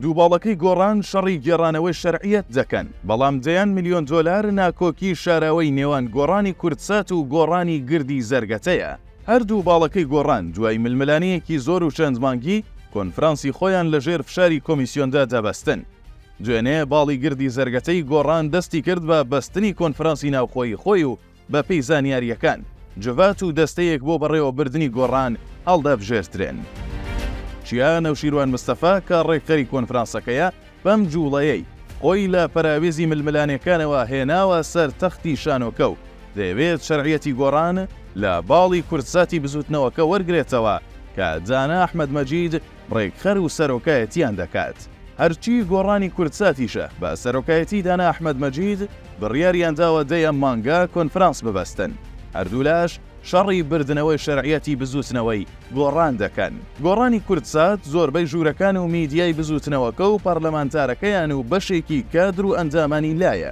دوو باڵەکەی گۆڕان شەڕی گێڕانەوەی شەرعیەت دەکەن، بەڵام دەیان ملیۆن دۆلار ناکۆکی شاراوەی نێوان گۆڕانی کوردسات و گۆڕانی گردی زەرگەتەیە. هەر دوو باڵەکەی گۆڕان دوای ململانێیەکی زۆر و چەند مانگی، کۆنفرانسی خۆیان لە ژێر فشاری کۆمیسیۆندا دەبەستن. دوێنێ باڵی گردی زەرگەتەی گۆڕان دەستی کرد بە بەستنی کۆنفرانسی ناوخۆیی خۆی و بەپێی زانیارییەکان، جڤات و دەستەیەک بۆ بەڕێوەبردنی گۆڕان هەڵدەبژێردرێن. چیا نەوشیروان مستەفا کە ڕێکخەری کۆنفرانسەکەیە، بەم جووڵەیەی خۆی لە پەراوێزی ململانێکانەوە هێناوە سەر تەختی شانۆکە و دەیەوێت شەرعیەتی گۆڕان لە باڵی کوردساتی بزوتنەوەکە وەرگرێتەوە کە دانا ئەحمەد مەجید ڕێکخەر و سەرۆکایەتیان دەکات، هەرچی گۆڕانی کوردساتیشە بە سەرۆکایەتی دانا ئەحمەد مەجید، بڕیاریان داوە دە یەم مانگە کۆنفرانس ببەستن، هەردوولاش شەڕی بردنەوەی شەرعیەتی بزووتنەوەی گۆڕان دەکەن، گۆڕانی کوردسات زۆربەی ژوورەکان و میدیای بزووتنەوەکە و پەرلەمانتارەکەیان و بەشێکی کادر و ئەندامانی لایە،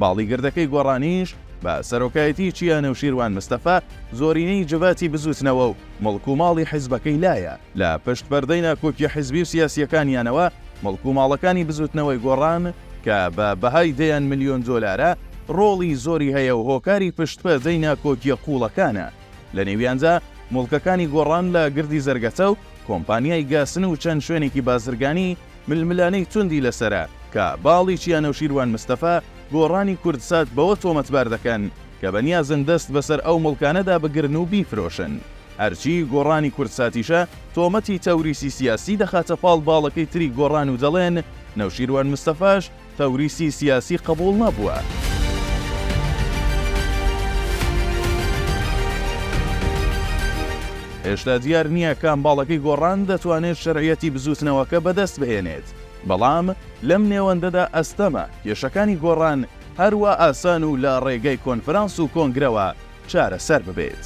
باڵی گردەکەی گۆڕانیش بە سەرۆکایەتی چیا نەوشیروان مستەفا زۆرینەی جڤاتی بزوتنەوە و مڵک و ماڵی حیزبەکەی لایە، لە پشت پەردەی ناکۆکیە حیزبی و سیاسیەکانیانەوە مڵک و ماڵەکانی بزوتنەوەی گۆڕان کە بە بەهای دەیان ملیۆن دۆلارە ڕۆڵی زۆری هەیە و هۆکاری پشت پەردەی ناکۆکیە قوڵەکانە. لە نێویاندا موڵکەکانی گۆڕان لە گردی زەرگەتە و کۆمپانیای گاسن و چەند شوێنێکی بازرگانی، ململانێی توندی لەسەرە کە باڵی چیا نەوشیروان مستەفا، گۆڕانی کوردسات بەوە تۆمەتبار دەکەن کە بەنیازن دەست بەسەر ئەو موڵکانەدا بگرن و بیفرۆشن، هەرچی گۆڕانی کوردساتیشە تۆمەتی تەوریسی سیاسی دەخاتە پاڵ باڵەکەی تری گۆڕان و دەڵێن نەوشیروان مستەفاش، تەوریسی سیاسی قبوڵ نەبووە. هێشتا دیار نییە کام باڵەکەی گۆڕان دەتوانێت شەرعیەتی بزووتنەوەکە بەدەست بهێنێت، بەڵام لەم نێوەندەدا ئەستەمە کێشەکانی گۆڕان هەروا ئاسان و لە ڕێگەی کۆنفرانس و کۆنگرەوە چارەسەر ببێت.